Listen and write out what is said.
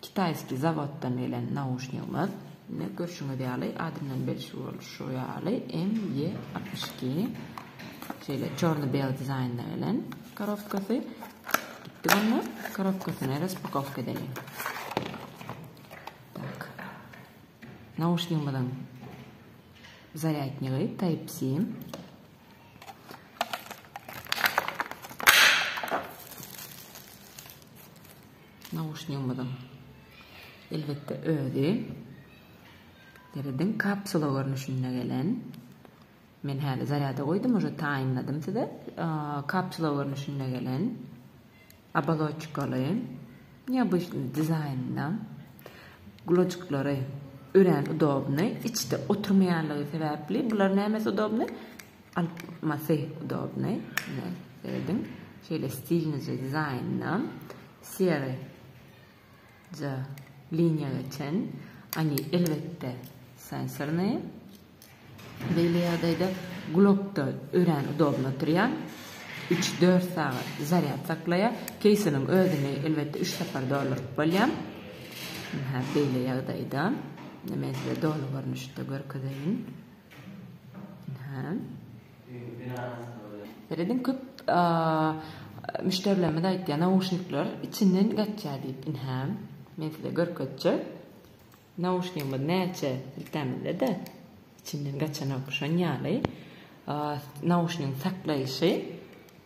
Kitaýskiý zawoddan gelen nauşnigimiz, indi görşüňiz ýaly, adyndan belli bolşy ýaly, MY altmyş iki. Şeýle çorny-beli dizaýnda gelen korobkasy. Gitdik onda korobkasyny raspakowka edeýin. Tak. Nauşnigimiziň zarýadnigi Type-C. Nauşnigimiziň elbetde özi derediň kapsula görnüşinde gelen. Men häli zarýada goýdum uje taýynladym size. Kapsula görnüşinde gelen. Abaloçkaly. Neobişli dizaýnda. Gulajyklary örän udobny. Içde oturmaýanlygy sebäpli. Bular nämesi udobny? Almasy udobnyý ediň şeýle stilnije dizaýnynam sery ja liniýa geçen oni elbetde sensornyý beýle ýagdaýda gulakda örän udobny oturýa üç dört sagat zarýad saklaýa keýsiniň özüni elbetde üç sapar dolduryp bolýa beýle ýagdaýda men size doly görnüşde görkezeýin. Serediň köp müşderilerimiz aýtýar nauşnikler içinden gaçýar diýip inhäm men size görkezjek nauşnigimiz näçe siltämizde-de içinden gaçanok şon ýaly nauşnigiň saklaýyşy